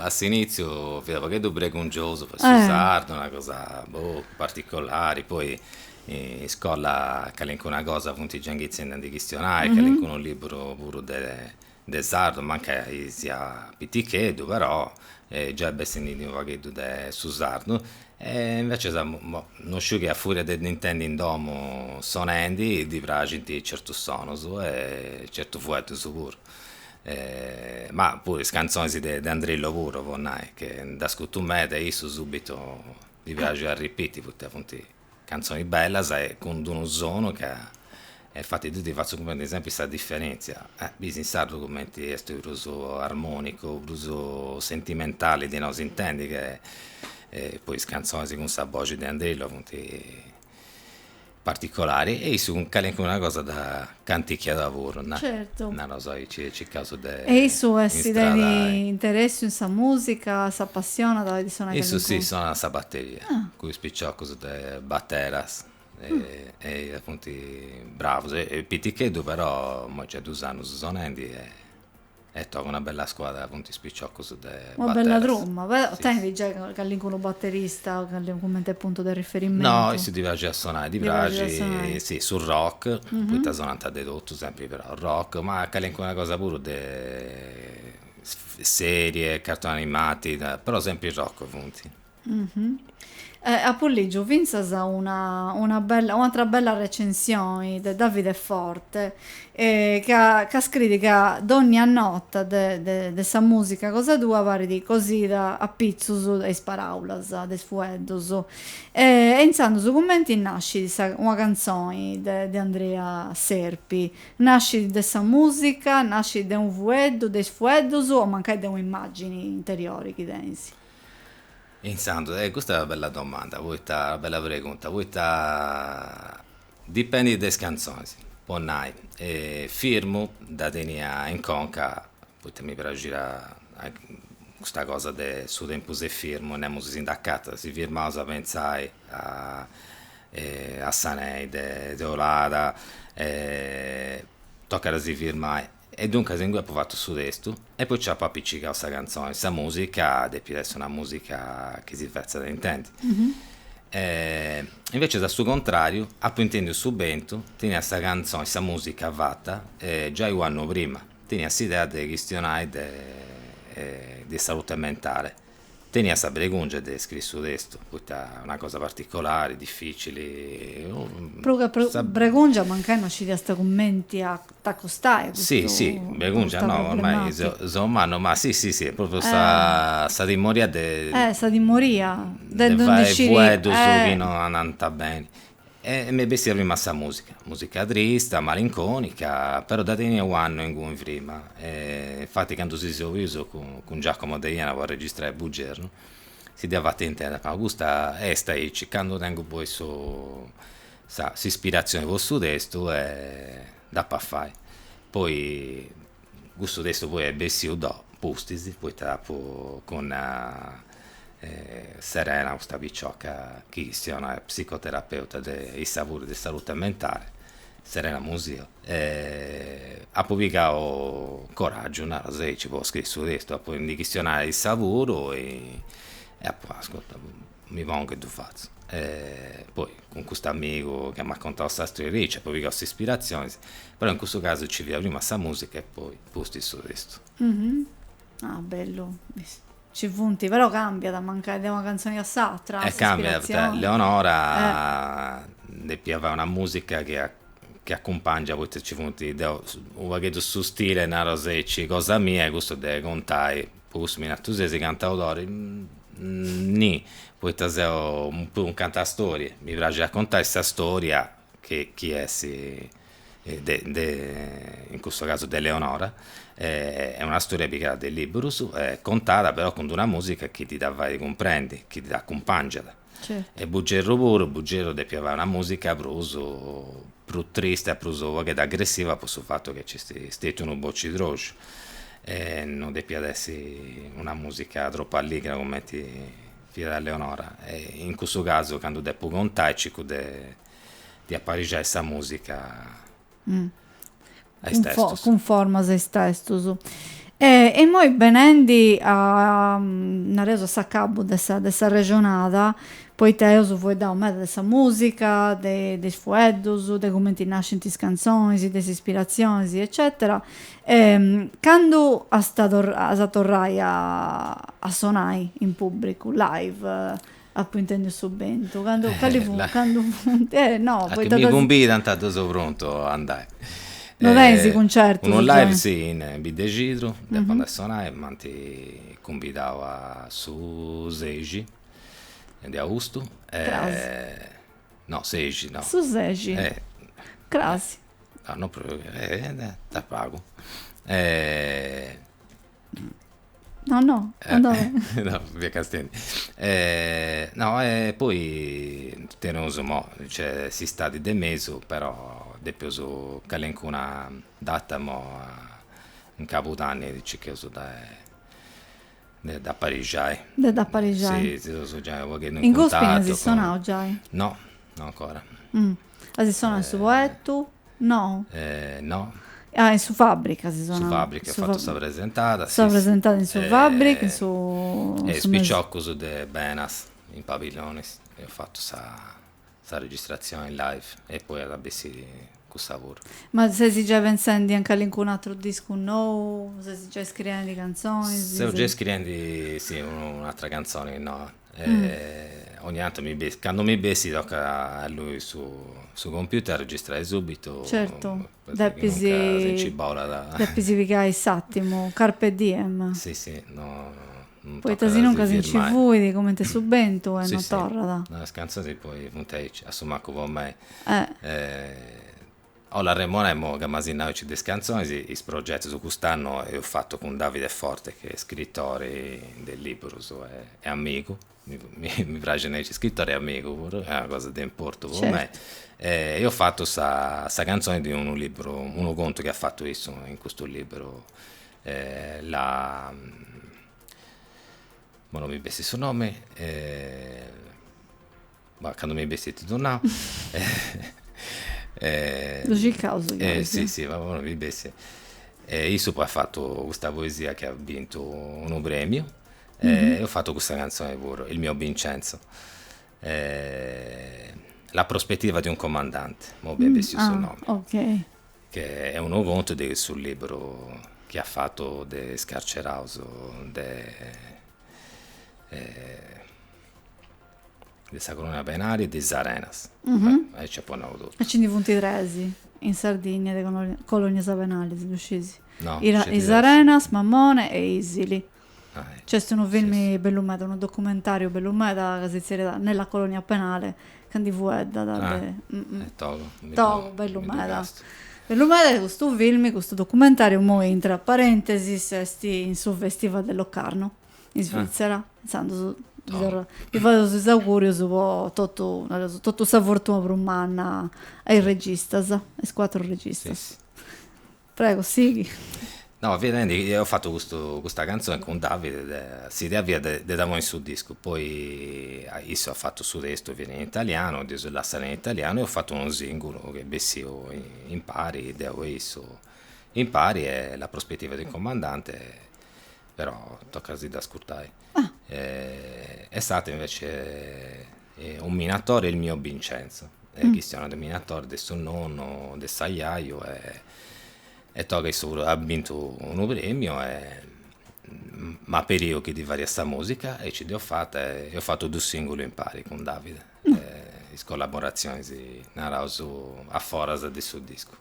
a s'initziu fiat u' pagheddu bregungiosu po su sardu, una cosa boh particolari, poi in iscola calincuna cosa funt giai inghitzendi a ndi chistionai, calincunu liburu puru de de sardu mancai sia piticheddu però giai bessendindi unu pagheddu de su sardu e inveces boh no sciu chi a furia de dd'intendi in domu sonendi ddi praxinti certus sonus e certu fueddus puru ma puru is cantzonis de de Andrillo puru po nai che dd'ascutu meda e issu subitu ddi praxit a ripiti poita funti Cantzonis bellas e cun d'unu sonu ca infati ddi fatzu cumprendi sempri sa diferentzia, bis in sardu cumenti est prus armonicu, prus sentimentali di no s'intendi che poi is cantzonis cun sa boxi de Andrillo funt particolari e issu calincuna cosa dda Cantichiada puru, nai. Certu. Naros aici e circaus de. E issu est teni interessu in sa musica, s'appassionat de sonai calincuna. Issu si, sonat sa batteria. Ah. Cun is piciocus de batteras e apuntu bravus est piticheddu però, imoi nc'est dus annus sonendi e. E toca una bella scuadra, funt is piciocus de Bateras. Una bella truma, però tenit giai calincunu baterista cumenti a puntu de riferimentu? No, issu ddi praxit a sonai, ddi praxit, si, su rock, poita sonant de totu sempri, però rock, ma calincuna cosa puru de serie, cartoni animati, però sempri rock funt. Apo lìgiu fintzas una una bella un'atra bella recensione de Davide Forte ca ca scriit ca dònnia nota de de de sa mùsica cosa tua parit cosida a pitzus de is paràulas de is fueddus e intzandus su cumenti nascit sa una cantzoni de de Andrea Serpi nascit de sa mùsica nascit de unu fueddu de is fueddus o mancai de un'immàgini interiori chi tenis Intzandus, e custa est una bella domanda, poita, una bella pregunta, poita dipendit de is cantzonis, po nai, firmu dda tenia in conca, poita mi praxiat custa cosa de su tempus est firmu, nemus si nd'acatat, si firmaus a pentzai a a sa neide de 'olada, tocat a si firmai E duncas ingui apu fatu su testu e poi nci apu apicigau sa cantzoni, sa musica depit essi una musica chi si fetzat intendi. E invecias a su contrariu apu intendiu su bentu, tenia sa cantzoni, sa musica fata giai u annu prima, tenia s'idea de chistionai de de salute mentale. Tenia sa bregùngia de scriri su testu, poita una cosa particolari, dificili. Prus che bregùngia, mancai no scidiast cumenti a t'acostai a custu tabu problematicu. Si, si, bregùngia no, ormai seu mannu, ma si, si, si, est pròpriu sa timoria de. Eh, sa timoria de ndi scriri. De fai fueddus chi no andant beni. E m'est bessia prima sa musica, musica trista, malinconica, però dda tenia u'annu inguni prima, e infati candu si seus bius cun Giacomo Deiana po arregistrai Bugernu, si dd'ia fata intendi, apu nau, custa est aici, candu tengu poi su sa s'ispirazioni po su testu e dd'apu a fai. Poi Custu testu poi est bessiu depustis poita apu cun Serena custa picioca chi chistionat est psicoterapeuta de in sardu de salute mentale, Serena Musio, e apu pigau coraggiu naru sei nci potzu scriri su testu po ndi chistionai in sardu e apu nau ascurta Mi pongu e ddu fatzu. E poi cun custu amigu chi m'at contau sa storiedda apu pigau s'ispiratzionis, però in cussu casu nci fiat prima sa musica e poi pustis su testu. Ah bellu, nci funt, però cambiat mancai de una cantzoni a s'atra s'ispiratzioni. E cambiat poita Leonora depiat fai una musica chi acumpangiat poita nci funt, deu u' pagheddu su stile, nareus aici, cosa mia est cussu de contai Po cussu mi nanta sesi cantaudori? Ni, poita seu puru un cantastorie, mi praxit a contai sa storia chi chi essi de de in custu casu de Leonora est una storia pigada de libburus e contada però cun d'una musica chi ti da fai cumprendi, chi ti da accumpàngiada. e Bugerru puru, Bugerru depiat fai una musica prus prus triste e prus u' pagheddu aggressiva po su fattu chi nc'est stetiu unu bocidroxu e no depiat essi una musica tropu alligra cumenti fiat Leonora e in cussu casu candu depu contai circu de de aparixai sa musica a is testus. Cunformas a is testus. E immoi benendi a, nareus a s'acabu de sa de s'arrexonada, poita eus fueddau meda de sa musica, de is fueddus, de cumenti nascint is cantzonis, de is ispiratzionis eccetera, candu ast a torrai a sonai in pubbricu, live, Apo intendiu su bentu, candu, cali fut, candu funt, eh no, poita ca. Chi mi cumbidant deu seu prontu a andai. No tenis cuncertus. Unu live si, in Biddexidru, depu andai a sonai, m'ant cumbidau a su sexi de austu. Cras. No, sexi no. Su sexi. Cras. No, no prus, eh, de a pagu. No, no, eh, no, via Castendi. Eh, no, e eh, poi teneus imoi, nc'est s'istadi de mesu, però depustis calencuna data in Cabudanni circheus de de dd'aparixai. De dd'aparixai. Si, si seus giai u' pagheddu in cuntatu. In Gospini as sonau giai? No, no ancora. Mm. As sonau in su Poettu? No. No. Ah, in su Fabric as sonau. Su Fabric apu fatu sa presentada, si. Sa presentada in su Fabric, in su. E is piciocus de Benas, in Pabillonis, eus fatu sa sa registratzioni live e poi at bessiri cussa puru. Ma ses giai pentzendi a calincunu atru discu nou? Ses giai scriendi cantzonis? Seu giai scriendi, si, un'atra cantzoni noa. E ogni tantu mi bessit, candu mi bessit tocat a allui su computer a registrai subitu. Certu, depis. Si nci bolat. Depis pigai s'atimu, carpe diem. Si si, no, non tocat a si firmai. Poita sinuncas si nci fuit cumenti su bentu e non torrat. Is cantzoni poi funt aici, a su mancu po mei. 'Olia arremonai, imoi ca m'as nau aici de is cantzonis, is progetus cust'annu eus fatu cun Davide Forte chi est scritori de liburus e amigu, mi praxit nai aici scritori e amigu puru, est una cosa de importu po mei, eus fatu sa cantzoni de unu liburu, unu contu chi at fatu issu in custu liburu imoi no mi bessit su nomi ma candu mi bessit ti ddu nau e ddu circaus e si si ma imoi no mi bessit e issu poi at fatu custa poesia chi at bintu unu premiu e eus fatu custa cantzoni puru Il mio Vincenzo e La prospettiva di un comandante imoi m'est bessiu su nomi okay chi est unu contu de su liburu chi at fatu de is carceraus de De sa colonia penali e de Is Arenas. Aici apu nau totu. E nci ndi funt tres in Sardinnia de colonias penalis, ddu sciis? No, sceti tres. Is Arenas, Mammone e Isili. Nc'est unu filmi bellu meda, unu documentariu bellu meda ca si zerriat Nella colonia penale ca ndi fueddat de. E togu. Togu, bellu meda. Bellu meda e custu filmi, custu documentariu, imoi intra parentesis, est in su Festival de Locarno. in Svitzera, intzandus ddi torraus, ddi fadeus is augùrius po totu, nareus, totu sa fortuna prus manna a is registas, a is cuatru registas. Prego, sighi. No, fia nendi, eus fatu custu, custa cantzoni cun Davide, s'idea fiat de de dda ponni in su discu, poi issu at fatu su testu, fiat in italianu, dd'eus lassau in italianu e eus fatu unu sìngulu chi est bessiu impari, deu e issu impari e La prospettiva di un comandante però tocat a si dd'ascurtai. E s'atera invece unu minatore est Il mio Vincenzo, e chistionat de minatore de su nonnu, de s'ajaju e tocat issa puru at bintu unu premiu e m'at periu chi ddi faria sa musica e aici dd'eus fata e eus fatu dus sìngulus impari cun Davide, is collaborazionis naraus a foras de su discu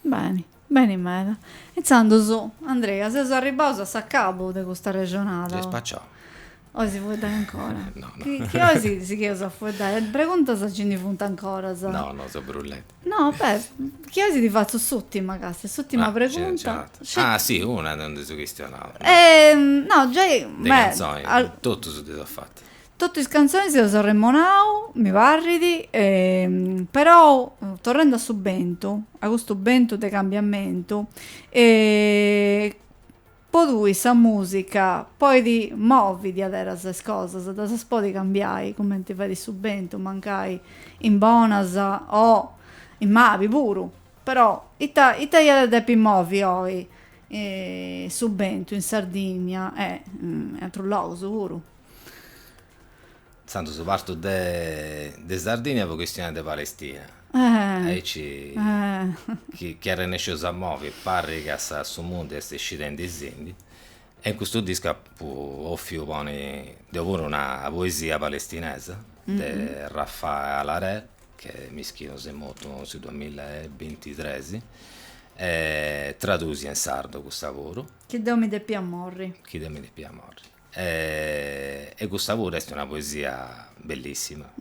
Beni, beni meda. Intzandus, Andrea, seus arribbaus a s'acabu de custa arrexonada. S'est spaciau. 'Ois fueddai ancora? No, no. Chi, chi 'ois, sigheus a fueddai? Preguntas nci ndi funt ancoras? No, no, seu brullendi. No, beh, chi 'ois ti fatzu s'utima casi, s'utima pregunta. Ah, si, no nd'eus chistionau. No, giai, beh. De canzoni, totus ddis at fatu. Totu is cantzonis eus arremonau, mi parrit, perou torrendi a su bentu, a custu bentu de cambiamentu, po tui sa musica podit movi diaderas is cosas, ddas podit cambiai cumenti fait su bentu, mancai in bonas o in mali puru, però ita ita iat a depi movi oi su bentu in Sardigna e in atrus logus puru? Intzandus partu de de Sardigna po chistionai de Palestina. Aici chi chi arrennescius a movi parrit ca sa su mundu est scidendisindi e in custu discu apu ofiu ponni deu puru una poesia palestinesa de Refaat Alareer cument'iscieus est mortu in su duamilla e bintitres e tradusia in sardu custa puru. Chi deu mi depia morri. Chi deu mi depia morri. E custa puru est una poesia bellissima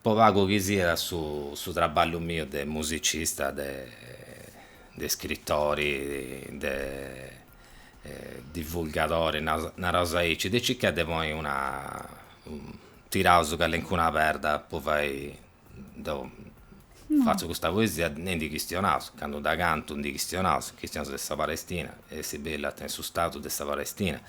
po pagu chi siat su traballu miu de musicista de scritori de divulgadori naraus aici de circai de ponni una tiraus calincuna perda po fai Deu fatzu custa poesia e ndi chistionaus, candu dda cantu ndi chistionaus, chistionaus de sa Palestina essi bellu a tenni su Stadu de sa Palestina,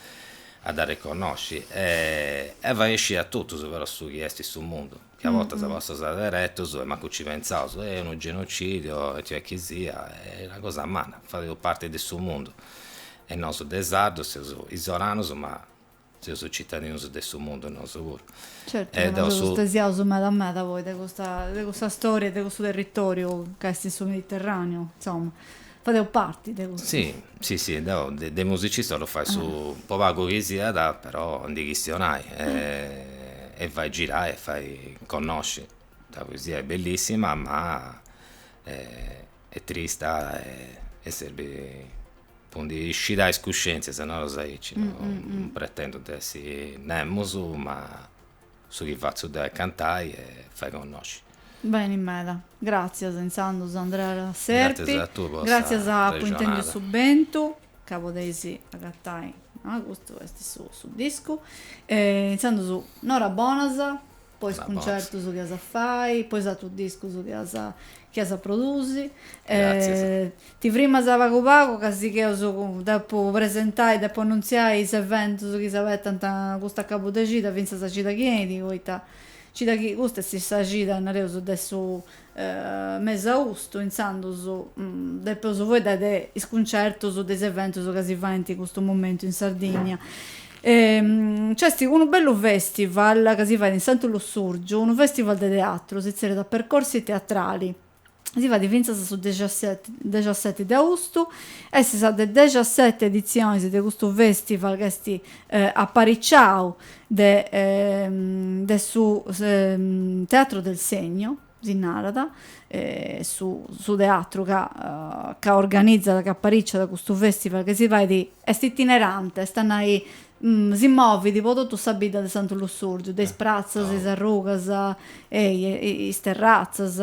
a dd'arreconnosci e fai scì a totus però su chi est in su mundu, ca a bortas passaus aderetus e mancu nci pentzaus, est unu genocìdiu e it'est chi siat, est una cosa manna, fadeus parti de su mundu e nosu de sardus seus isoranus ma Seus citadinus de su mundu nosu puru. Certu ca no seus stesiaus meda meda poi de custa de custa storia e de custu territoriu ca est in su Mediterraneu, insoma, fadeus parti de custu. Sì, sì sì, deu de de musicista 'ollu fai su po pagu chi siat però ndi chistionai e fai girai e fai connosci, sa poesia est bellissima ma est trista e serbit po ndi iscidai is cuscientzias, naraus aici, non pretendu de essi nemos, ma su chi fatzu deu est cantai e fai connosci. Beni meda, gràtzias intzandus Andrea Serpi. Gràtzias a tui po sa rexonada. Gràtzias po Intèndiu su bentu, ca podeis agatai, custu est su discu. Intzandus in oras bonas. po is cuncertus chi as a fai, po is atrus discus chi as chi as a produsi. Gratzias. Ti frimas pagu pagu ca sigheus cun depu presentai, depu annuntziai is eventus chi s'abetant custu acabu de cida fintzas a cida chi 'enit, poita cida chi custa est sa cida, nareus, de su Mes' austu intzandus depeus faeddai de is cuncertus de is eventus ca si faint in custu momentu in Sardinnia. Nc'est unu bellu festival ca si fait in Santu Lussurgiu, unu festival de teatru, si zerriat Percorsi Teatrali, si fait fintzas a su dexaseti de austu, est sa de dexaseti edizionis de custu festival ca est apariciau de de su Teatro del Segno si narat, su su teatru ca ca organizat, ca apariciat custu festival ca si fait, est itinerante, est a nai, si movit po totu sa bidda de Santu Lussurgiu, de is pratzas, is arrugas, e is terratzas,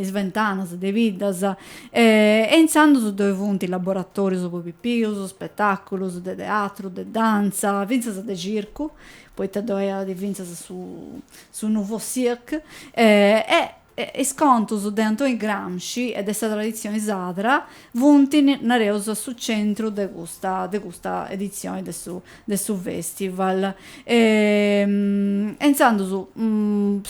is ventanas de biddas e intzandus ddoi funt laboratòrius po pipius, spetàculus de teatru, de dantza, fintzas de circu, poita ddoi at fintzas su su nouveau cirque e is contus de Antoni Gramsci e de sa traditzioni sadra funt nareus a su centru de custa de custa editzioni de su de su festival e intzandus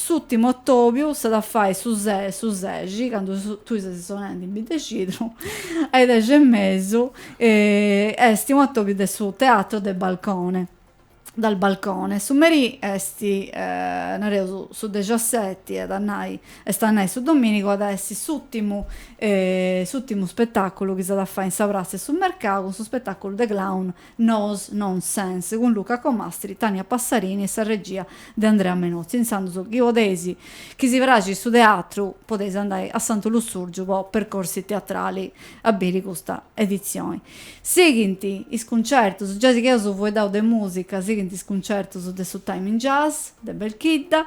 s'ùrtimu atòbiu s'at a fai su su sexi candu tui ses sonendi in Biddexidru a is dexi e mesu est u' atòbiu de su teatro de balcone dal balcone su merì e nareus su dexaseti est a nai est a nai su domìnigu at a essi s'ùrtimu s'ùrtimu spetaculu chi s'at a fai in sa pratza 'e su mercau cun su spetaculu de clown Nos, Nonsense, cun Luca Comastri, Tania Passarini e sa regia de Andrea Menozzi. Intzandus, chi podeis, chi si praxit su teatru, podeis andai a Santu Lussùrgiu po Percorsi Teatrali a biri custa editzioni. Sighint is cuncertus, giai chi eus fueddau de mùsica, sighint is cuncertus de su Time in Jazz de Belchidda,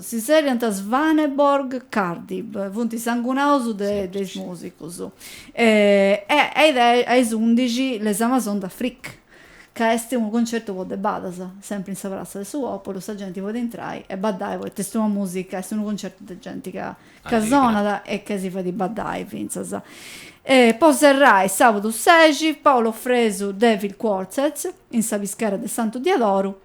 si zerriant Svaneborg Kardyb, funt sangunaus de is musicus, e a is undixi Les Amazones d'Afrique, ca est unu concertu po debadas, sempri in sa pratza de su populu, sa genti podit intrai e baddai poita est una musica, est unu concertu de genti ca sonat e ca si fait baddai finzas. Po serrai sabudu sexi Paolo Fresu Devil Quartet in sa pischera de Santu Diadoru,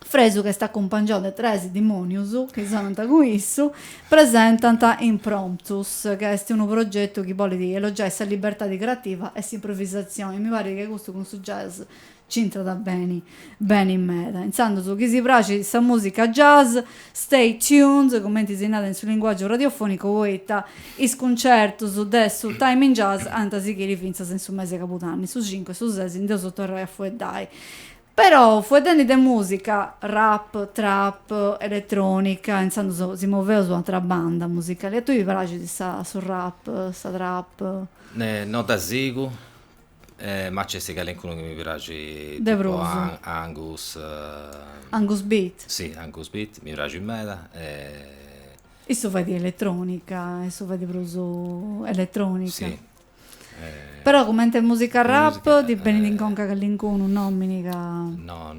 Fresu ch'est acumpangiau de tres dimonius chi sonant cun issu, presentant Impromptus, ca est unu progetu chi bolit elogiai sa libertadi creativa e s'improvisazioni e mi parit chi custu cun su jazz c'intrat beni beni meda. Intzandus chi si praxit sa musica jazz, stay tuned, cumenti si narat in su linguagiu radiofonicu, poita is cuncertus de su Time in Jazz ant a sighiri fintzas in su mesi 'e cabudanni, su cincu e su sesi ndi eus a torrai a fueddai. Però fueddendi de musica, rap, trap, elettronica, intzandus si moveus u' atra banda musicali. A tui ti praxit sa su rap, sa trap? No dda sigu, ma nc'est calincunu chi mi praxit de prus, tipu Angus, Angus Bit, si Angus Bit mi praxit meda e. Issu fait elettronica, issu fait prus elettronica. Però cumenti musica rap ti benit in conca callincunu nomini ca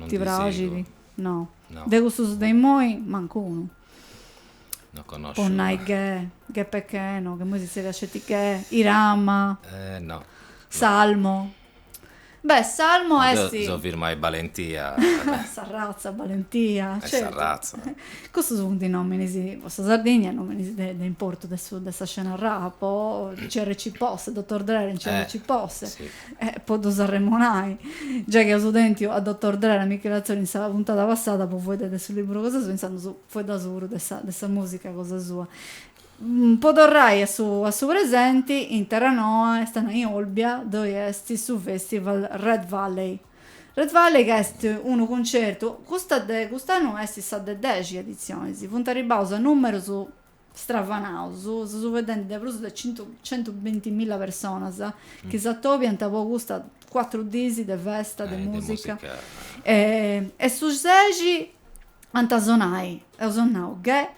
ti praxit? No. De custus de immoi mancunu. Po nai Guè, Guè Pequeno, ca immoi si tzerriat sceti Guè, Irama, Salmo. Beh, Salmo est. Seu firma a Balentia. Sa Razza, Balentia. E Sa Razza. Custus funt nominis, po sa Sardigna, nominis de de importu de su de sa scena rap, o CRC Posse, Dottor Drer and CRC Posse, po ddus arremonai. Giai chi eus tentu a Dottor Drer, a Michele Atzori in sa puntada passada po fueddai de su liburu cosa sua, intzandus fueddaus puru de sa de sa musica cosa sua. Po torrai a su a su presenti, in Terranoa est a nai in Olbia ddoi est su festival Red Valley. Red Valley ca est unu cuncertu, custa de cust'annu est sa de dexi editzioni, si funt arribbaus a numerus stravanaus, seus fueddendi de prus de centu centu bintimilla personas chi s'atobiant po custa cuatru dís de festa, de musica e su sexi ant a sonai, eus nau Guè,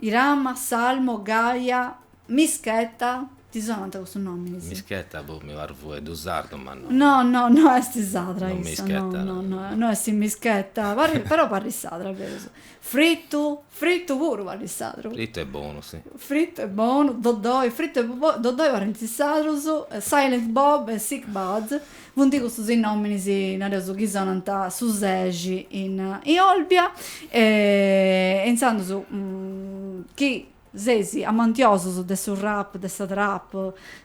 Irama, Salmo, Gaia, Myss Keta, ti sonant custus nominis? Myss Keta boh mi parit fueddu sardu ma no. No no no est sarda issa. No Myss Keta no. No no no est Myss Keta però parit sarda berus. Fritu, Fritu puru parit sardu. Fritu est bonu si. Fritu est bonu, Dodoi, Fritu e Dodoi parint sardus, Silent Bob e Sick Budd Funt custus is nominis, nareus, chi sonant su sexi in Olbia e intzandus chi seis amantiosus de su rap, de sa trap,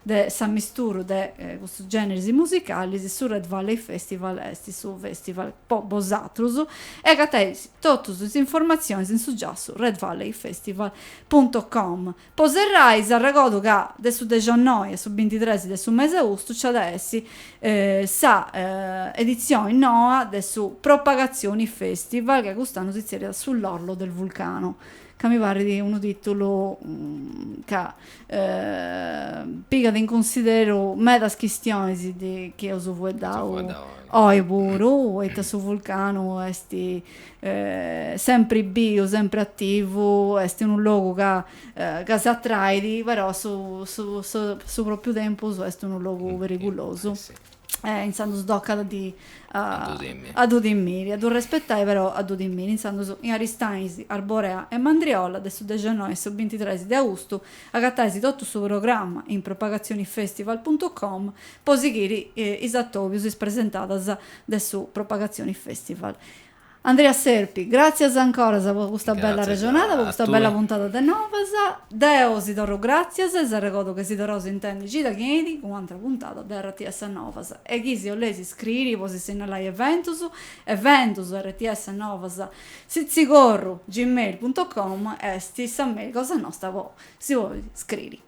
de s'amisturu de custus generis musicalis, su Red Valley Festival est su festival po bosatrus e agatais totus is informatzionis in su giassu redvalleyfestival punto com. Po serrai s'arregodu ca de su dexennoi a su bintitres de su mesi 'e austu nci at a essi sa editzioni noa de su Propagazioni Festival ca cust'annu si tzerriat Sull'orlo del vulcano ca mi parrit unu titulu ca pigat in cunsideru medas chistionis chi eus fueddau oi puru poita su vulcanu est sempri biu, sempri ativu, est unu logu ca ca s'atrait, però su su su pròpiu tempus est unu logu perigulosu e intzandus tocat a ddu timiri, a ddu respetai però a ddu timiri. Intzandus in Aristanis, Arborea e Mandriola de su dexennoi a su bintitres de austu agatais totu su programma in propagazionifestival puntu com po sighiri is atòbius, is presentadas de su Propagazioni Festival. Andrea Serpi, gràtzias ancoras po custa bella arrexonada, po custa bella puntada de Novas. Deu si torru gràtzias e s'arregodu che si torraus intendi cida chi enit cun u'antra puntada de rts Novas e chi si 'oleis iscriri po si sinnalai eventus, eventus rts novas sitzigorru gmail punto com est sa mail cosa nosta po si 'olli iscriri.